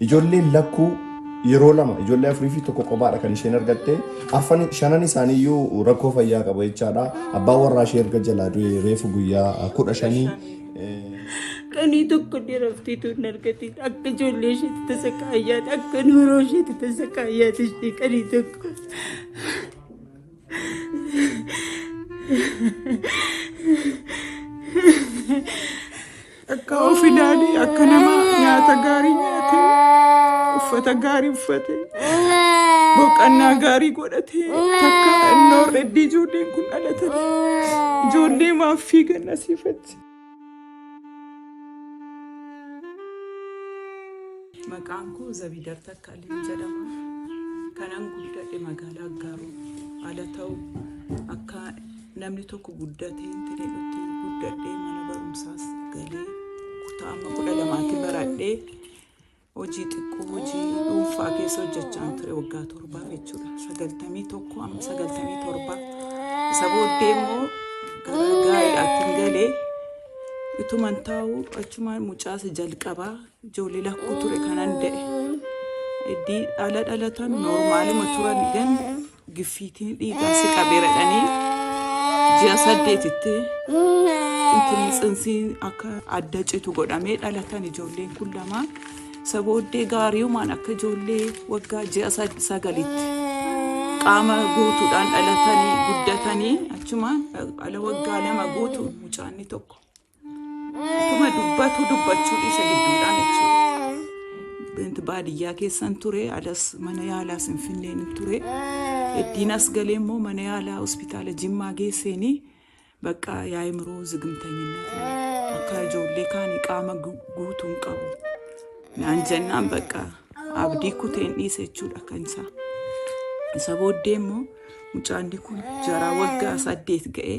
Ijoolleen lakkuu yeroo lama ijoollee afurii fi tokko qobaadha kan isheen argatte arfan shanan isaanii iyyuu rakkoo fayyaa qaba jechaadha abbaan warraa ishee erga jalaa du'e reefu guyyaa kudha shanii Kanii tokko dheeraftii tuun argatiin akka ijoollee isheetti tasa kaayyaati akka nuuroo isheetti tasa kaayyaati ishee kanii tokko. Akka of ilaalee akka nama nyaata gaarii nyaatee uffata gaarii uffatee boqannaa gaarii godhatee takka innoo reddii ijoolleen kun dhalatanii ijoollee maaf fiigan asiifachi. Maqaan koo Zabiidar Takkaaleen jedhama. Kanan guddadhe magaalaa Aggaaroo ala ta'u akka Namni tokko guddatee intineedhutti guddadhee mana barumsaas galee kutaa amma kudha lamaatti baradhee hojii xiqqoo hojii dhuunfaa keessa hojjechaan ture waggaa torbaa jechuudha. Sagaltamii tokko amma sagaltamii torbaa. Isa booddee immoo gara gaa'elaatti galee utuman taa'u achumaan mucaasa jalqabaa ijoollee lakkuu ture kanan da'e. Iddii dhala dhalatan noormaaluma turan gan Giffiitiin dhiigaa si qabeera dhanii ji'a saddeetitti ittiin tsinsiin akka adda citu godhamee dhalatan ijoolleen kun lama isa booddee gaariiumaan akka ijoollee waggaa ji'a sad- sagalitti qaama guutuudhaan dhalatanii guddatanii achumaan ala waggaa lama guutu mucaanni tokko Akkuma dubbatu dubbachuu dhiisa gidduudhaan jechuudha. Bint baadiyyaa keessan ture alas mana yaalaa sinfinneen ture. Eddiin as galee immoo mana yaalaa hospitaala Jimmaa geesseenii bakka yaa'imroo zigimtanyinna akka ijoollee kaanii qaama gu- guutuu hin qabu. Naan jennaan bakka abdii kuteen dhiise jechuudha kan isaa. Isa booddee immoo mucaan kun jaraa waggaa saddeet ga'ee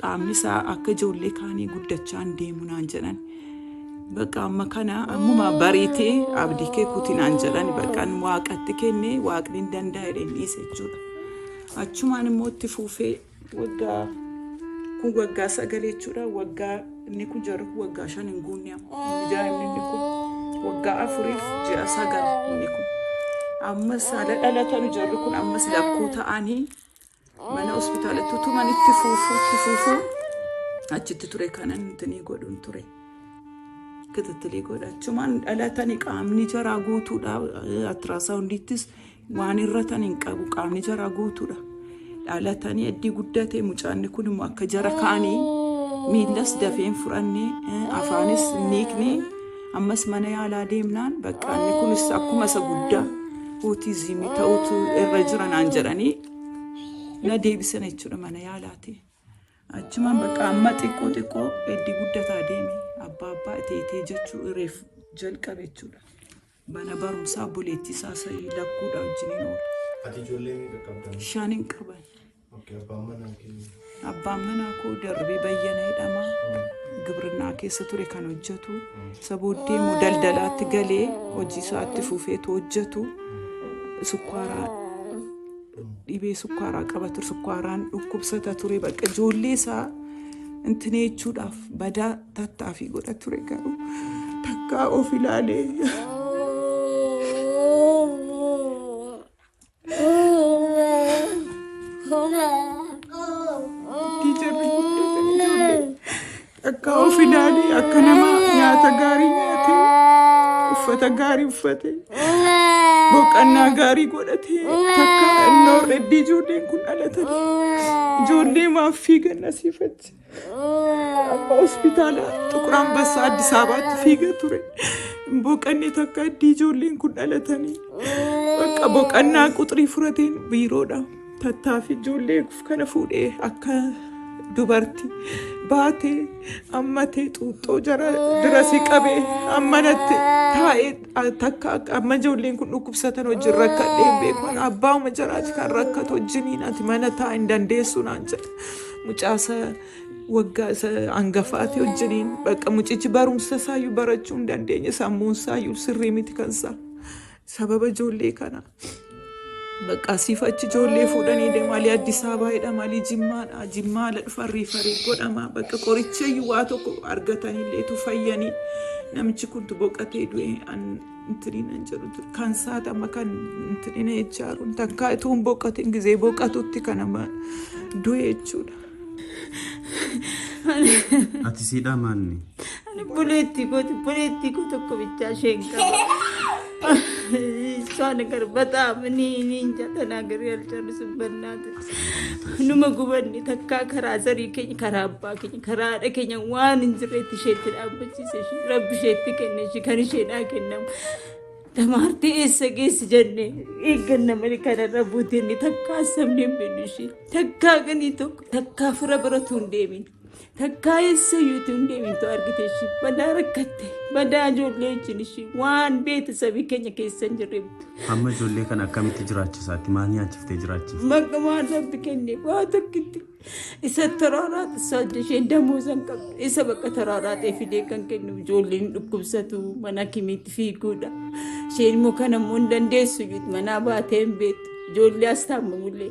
Qaamni isaa akka ijoollee kaanii guddachaa hin deemu naan jedhan. Bakka amma kana ammuma bariitee abdii kee kuti naan jedhan baqqan waaqatti kenne waaqni hin danda'a jedheen dhiise jechuudha. Achumaan immoo itti fuufee waggaa kun waggaa sagalee jechuudha. Waggaa inni kun jarri kun waggaa shan hin guunne amma. Inni daa'imni inni kun waggaa afuriif ji'a sagal inni kun. Ammas haala dhalatanu jarri kun ammas lakkuu ta'anii mana hospitaalatti utuman itti fuufuu itti fuufuu achitti ture kanan nutinii godhuun ture kitittilii godha achumaan dhalatani qaamni jaraa guutuudha attiraasaawundiittis waan irratan hin qabu qaamni jaraa guutuudha dhalatanii addii guddate mucaanni kun immoo akka jara kaanii miillas dafeen fudhanne afaanis niikne ammas mana yaalaa deemnaan baqqaanni kunis akkuma isa guddaa ootizimii ta'utu irra jira naan jedhanii na deebisan jechuudha mana yaalaati. Achumaan bakka amma xiqqoo xiqqoo eddi guddataa deeme abbaa abbaa itee itee jechuu ireef jalqabe jechuudha. Mana barumsaa obboleettii isaa sa'ii lakkuudha wajjin hin oolu. Ati ijoollee meeqa qabda? Shan hin qaban. Abbaan manaa kee Abbaan manaa koo darbee bayyana jedhama. Gibrinaa keessa ture kan hojjetu. Isa booddee immoo daldalaatti galee hojii isaatti fufeetu hojjetu. Sukkaaraa dhibee sukkaaraa qaba ture. Sukkaaraan dhukkubsata ture. Bakka ijoollee isaa intinee jechuudhaaf badaa tattaafii godha ture garuu takkaa of ilaalee Tiijarri guddate ijoollee akka of ilaalee akka nama nyaata gaarii nyaatee uffata gaarii uffatee boqannaa gaarii godhatee takka innoo reddii ijoolleen kun dhalatanii ijoollee maaf fiigan asiifachi. Amma hospitaala Xuqur Ambassaa Addis Ababaatti fiiga ture. Hin boqanne takka addii ijoolleen kun dhalatanii. Bakka boqannaa quxrii furateen biiroodha. Tattaafi ijoollee kana fuudhee akka dubarti baatee ammatee xuuxxoo jara dirasi qabee ammanatti taa'ee takka akka- amma ijoolleen kun dhukkubsatan wajjin rakkadhee beekuun abbaa'uma jaraati kan rakkatu wajjiniin ati mana taa'aa hin dandeessu naan jedha. mucaasa waggaa isa hangafaati wajjiniin bakka mucichi barumsa isaayyuu barachuu hin dandeenye sammuun isaayyuu sirrii miti kan isaa sababa ijoollee kana bakka asiif achi ijoollee fuudhanii deemaalii Addis Ababaa jedhamaalii Jimmaadha Jimmaadha dhufan riifarii godhama bakka qorichayyuu waa tokko argatanilleetu fayyanii namichi kuntu boqatee du'e an Intininan jedhu ture. Kan saati amma kan intinina jechaa jiru. Takkaa ituu hin boqatin gizee boqatutti kan amma du'e jechuudha. Ati siidhaa maanni? Ani buleettii kooti buleettii koo tokko bichaa isheen qaba. Isaan garbata amanii niin jatana gari alchan subbannaa ture. Numa gubanne takkaa karaa zarii keenya karaa abbaa keenya karaa haadha keenya waan hin jirreetti isheetti dhaabbachiise ishee rabbi isheetti kenne ishee kan isheedhaa kennamu. Damaartee eessa geessi jenne eegganna malee kanarra buutee inni takkaa sabni hin beekne ishee takkaa ganii tokko takkaa fira biratu hin deemin. Takkaa eessa iyyuutu hin deemtu argite ishii badaa rakkatte badaa ijoollee wajjin ishii waan beete sabii keenya keessa hin jirre Amma ijoollee kana akkamitti jiraachisaatti maal nyaachiftee jiraachiifte? maqaa waan rabbi kenne waa tokkitti isa taraaraati isa hojii ishee damuu san qabdu isa bakka taraaraatee fidee kan kennu ijoolleen dhukkubsatu mana kimiitti fiiguudha isheen immoo kan ammoo hin dandeessu iyyuu manaa baatee hin beektu ijoollee as taa'amamullee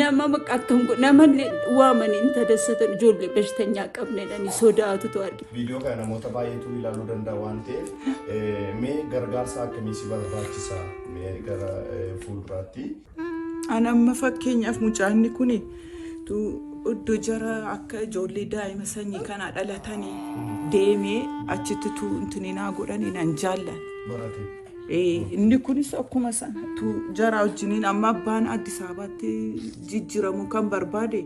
Nama maqaattan kun nama waaman hin tadassatan ijoollee bashtanyaa qabnedhani sodaatutu arge. Viidiyoo kana namoota baay'eetu ilaaluu danda'a waan ta'eef mee gargaarsa akkamii si barbaachisa mee gara fuulduraatti. An amma fakkeenyaaf mucaanni kun iddoo jara akka ijoollee daa'ima sanyii kanaa dhalatanii deemee achitti tuu intininaa godhanii nan jaallan. Barate. Inni kunis akkuma sanattuu jaraa wajjiniin amma abbaan Addis Ababaatti jijjiiramuu kan barbaade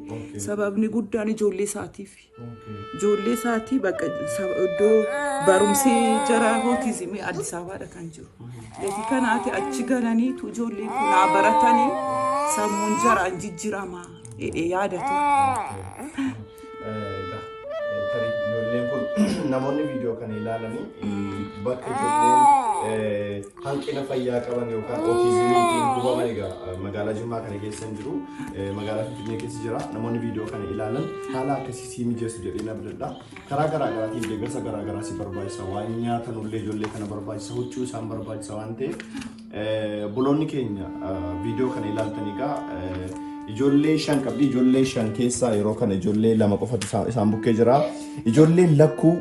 sababni guddaan ijoollee isaatiif. Ijoollee isaatii bakka iddoo barumsi jaraa hootizimii Addis Ababaadha kan jiru. Gatii kanaati achi galaniitu ijoollee kunaa baratanii sammuun jaraan jijjiiramaa yaadatu. Tarii ijoolleen kun namoonni viidiyoo kana ilaalanii bakka ijoolleen hanqina fayyaa qaban yookaan ootizimiitiin hubaman egaa magaalaa Jimmaa kana keessa hin jiru. Magaalaa Finfinnee keessa jira. Namoonni viidiyoo kana ilaalan haala akkasii sii mijeessu jedheen abdadha. Karaa garaa garaatiin deeggarsa garaa garaa si barbaachisa. Waan nyaatanullee ijoollee kana barbaachisa. Huccuu isaan barbaachisa waan ta'eef Obboloonni keenya viidiyoo kana ilaaltan egaa ijoollee shan qabdi. Ijoollee shan keessaa yeroo kana ijoollee lama qofatu isaan- isaan bukkee jira. Ijoolleen lakkuu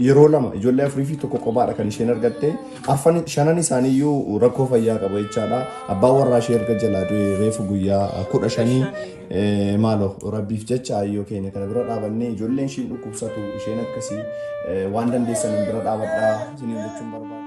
yeroo lama ijoollee afurii fi tokko kophaadha kan isheen argatte. Arfan shanan isaaniiyyuu rakkoo fayyaa qabu jechaadha. Abbaan warraa ishee erga jalaa du'e reefu guyyaa kudha shanii Eh, Maaloo rabbiif jecha ayyoo keenya kana bira dhaabannee ijoolleen ishiin dhukkubsatu isheen akkasii eh, waan dandeessaniin bira dhaabadhaa isiniin jechuun barbaada.